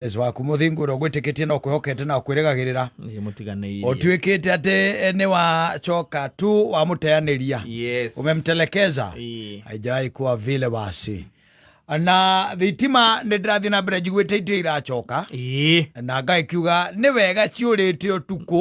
Yesu waku mũthingu ũrĩa ũgwĩtĩkĩtie na ũkwĩhokete na ũkwĩrĩgagĩrĩra Nĩ mũtiganĩirie. ũtuĩkĩte atĩ nĩ wacoka tu wamũteanĩria Yes. umemtelekeza Ĩĩ. haijawahi kuwa vile basi na thitima nĩ ndĩrathiĩ na mbere njiguĩte itirĩ iracoka Ĩĩ. na ngai kiuga nĩ wega ciũrĩte ũtukũ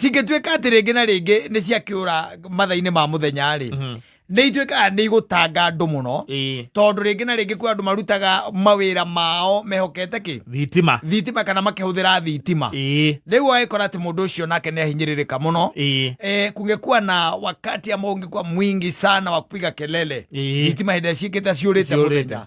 cingĩtuĩka atĩ rĩngĩ na rĩngĩ nĩ ciakĩũra matha-inĩ ma mũthenya-rĩ Mhm. nĩ ituĩkaga nĩ igũtanga andũ mũno Ĩĩ. tondũ rĩngĩ na rĩngĩ kwĩ andũ marutaga mawĩra mao mehokete kĩ thitima thitima kana makĩhũthĩra thitima Ĩĩ. rĩu agĩkora atĩ mũndũ ũcio nake nĩ ahinyĩrĩrĩka mũno Ĩĩ. e, kungekuwa na wakati ambao ungekuwa mwingi sana wa kupiga kelele Ĩĩ. thitima hĩndĩ ĩrĩa ciĩkĩte ciũrĩte Ciũrĩte. mũthenya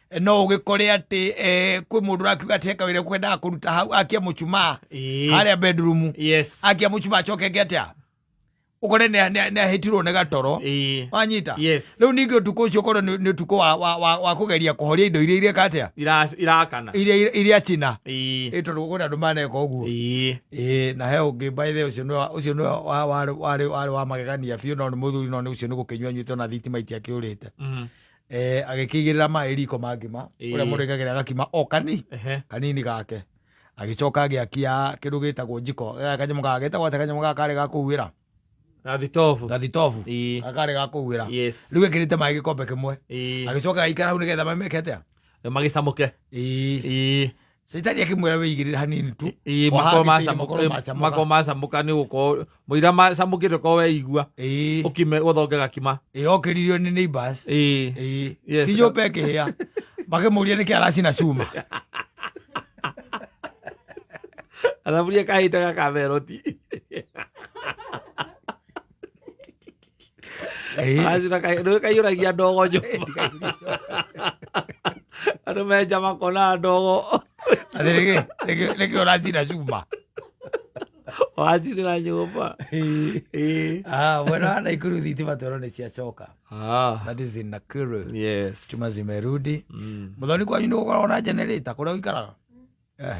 no ũgĩkore atĩ eh, kwĩ mũndũ ũrakiuga atĩ heka wĩra kwendaga kũruta hau akia mũcumaa Ĩĩ. harĩa bedroom yes akia mũcumaa acoke eke atĩa ũkore nĩ- nĩ- nĩ ahĩtirwo nĩ gatoro Ĩĩ. wanyita Yes. rĩu ningĩ ũtukũ ũcio korwo nĩ nĩ ũtukũ wa- wa- wa wa kũgeria kũhoria indo iria ireka atĩa Ira- irakana iria iria- iria cina Ĩĩ. ĩ tondũ kwĩna andũ maneka ũguo Ĩĩ. ĩĩ na he ũngĩ baithe ũcio nĩ wa- ũcio nĩ wa- wa- warĩ warĩ- warĩ wa magegania biũ no nĩ mũthuri no nĩ ũcio nĩ gũkĩnyua nyuĩte ona thitima itiakĩũrĩte Mhm. eh, agĩkĩigĩrĩra maĩ riko ma ngima Ĩĩ. ũrĩa mũndũ ekagĩra gakima o kani Ehe. kanini gake agĩcoka agĩakia kĩndũ gĩtagwo njiko Eh, kanyamũ gaka getagwo atĩ kanyamũ gaka karĩ ga kũhuĩra Na thitobu. gathitobu Ĩĩ. gaka karĩ ga kũhuĩra Yes. rĩu ekĩrĩte maĩ gĩkombe kĩmwe Ĩĩ. agĩcoka agaikara hau nĩgetha mameke atĩa Magĩcamũke. Ĩĩ. Ĩĩ. caitani akĩmwĩra wĩigĩrĩre hanini tu Ĩĩ, O makorwo hangĩte ire, makorwo macamũka- macamũka. makorwo macamũka nĩ gũkorwo mũira macamũkĩte korwo weigua Ĩĩ, ũkime gũthonge gakima ĩĩ, okĩririo nĩ neighbors Ĩĩ. Ĩĩ, Yes. ti nyũmba ĩkĩhĩa makĩmũria nĩkĩ aracina cuma athaburia kahĩte gakameroti Ĩĩ. acira kaĩ- nĩ kaiyũragia ndogo nyũmba andå menja makona ndogo Atĩ nĩkĩ- nĩkĩ- nĩkĩ ũracina cuma wacirä nyũmba Ĩĩ. Ah, mwena wa naikuru thitima twero nä ciacoka Ah, that is in nakuru yes. chuma zimerudi Mm. må thoni kwanyu nä gå koragwo na generator kå rä a å ikaraga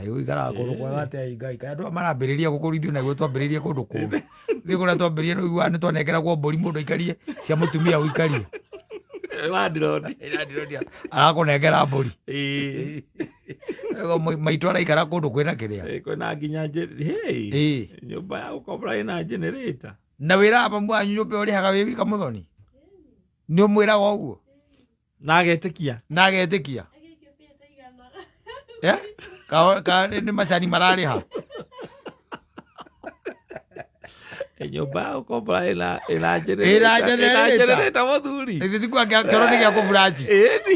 ũikaraga kũndũ kwega atĩa ĩ ngai kaya andå aya marambĩrĩria gũkũrithio naguo twambĩrĩrie kũndũ kũngĩ thiä kå rä a twambĩrĩrie nä ũiguaga nä twanekeragwo mbũri må ndå aikarie cia må tumia å ikarie wandirodi arakånengera mbåri maitå araikara kå ndå kwä na kä rä a kwĩna nginya njĩ- hey, Ĩĩ. nyũmba ya gũkombora ĩna generator na wä raga mamu wanyu nyå mba å rä haga wä wika må thoni nä å mwä raga å guo na agetĩkia na agetĩkia Eh? Ka- ka- nĩ macani mararĩha nyũmba ya gũkombora ĩna- ĩna Ĩna generator. generator. Ĩna generator, mũthuri ithe tiku angĩkorwo nĩ gĩa kũburaci Ĩni.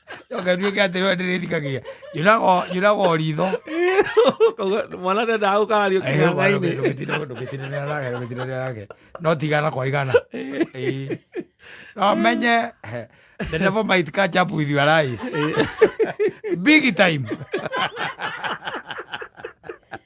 Yoka ndio kia tero ndiri thikagia. Juna go juna go ritho. Mwana ndio ndau kana rio kina ngai ni. Ndukitira ndukitira ni arage ndukitira ni arage. No tigana kwa igana. Eh. No menye the devil might catch up with your eyes. Big time.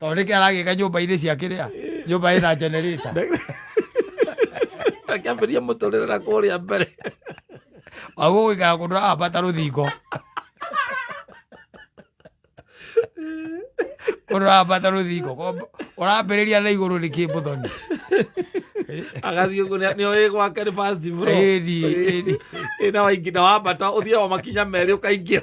tondå nä kä aragä nyå mba inä ciakä rä a nyå mba ä na generator akäambĩria mũtũrĩre na kũrĩa mbere aguo gå ikara kå ndå ambata rå thingo kå ndå ambata rå thingo å rambä rä ria na igå rå nä kä må thoni agathiĩ ũguo nĩ- nĩo ĩ gwake nĩ fast bro. Ĩni, ĩni. Ĩ na waingĩ na wambata ũthiaga o makinya merĩ ũkaingĩra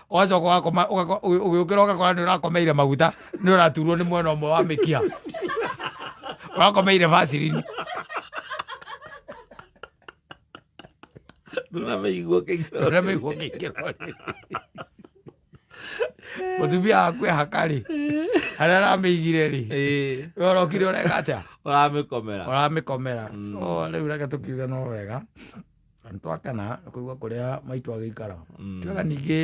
ũgacoka ũgakoma ũgako- ũgĩ- ũgĩũkĩra ũgakora nĩ ũrakomeire maguta nĩ ũraturwo nĩ mwena ũmwe wa mĩkia ũrakomeire vacirini ndũrameigua kĩgiro ũrĩa mĩiguo kĩingĩro mũtumia waku ehaka-rĩ harĩa aramĩigire-rĩ Ĩĩ, we ũrokire ũreka atĩa ũramĩkomera ũramĩkomera so rĩu reke tũkiuge no wega nĩ twakena nĩ kũigua kũrĩa maitũ agĩikara Mm. twega ningĩ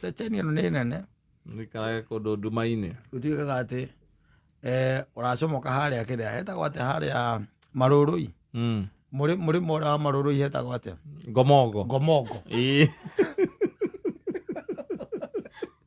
ceceni ĩno nĩ nene Nĩikaraga kũndũ nduma-inĩ gũtuĩkaga atĩ eh, ũracomoka harĩa kĩrĩa hetagwo atĩ harĩa marũrũi Mm. mũrĩ mũrĩ mora wa marũrũi hetagwo atĩa ngomongo ngomongo Ĩĩ.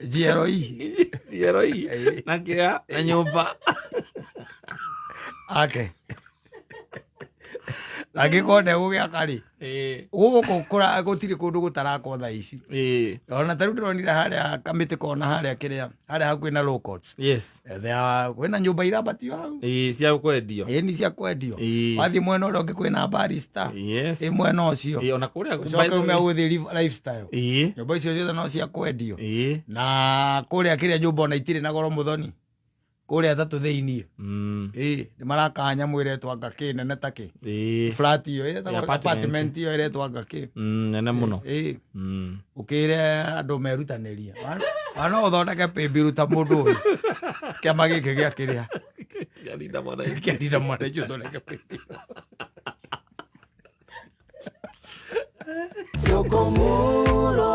njiaroi njiaroi na kĩa na nyũmba ake angĩkorwo ndegũgĩaka rĩ gũgũkũ gũtirĩ kũndũ gũtarakwo tha ici ona ta rĩu ndĩronire harĩa kamĩtĩ kona harĩa kĩrĩa harĩa hakuhĩ na Ethea kwina nyumba irabati hau. Ii, cia kwendio Ĩĩ ni cia kwendio. Ĩĩ. Wathi mwena uria ungi kwina barista. yes Ĩ mwena ucio. Ii, ona kuria Ucoke ume uthi lifestyle. ii Nyumba icio ciothe no cia kwendio. ii Na kuria kiria nyumba ona itire na goro muthoni. Kuria tatu thiini. mm Ĩĩ nĩ maraka nyamũ ĩretwa ngakĩ nene takĩ ii flat iyo ĩretagwo apartment. apartment iyo ĩretwa ngakĩ mm nene muno ĩĩ Mm. ukire andu merutanirie wana uthondeke pimbiru ta mundu uyu kiama giki gia kiria Kiarinda mwananchi. kiarira mwana icio uthondeke pimbiru Sokomoro.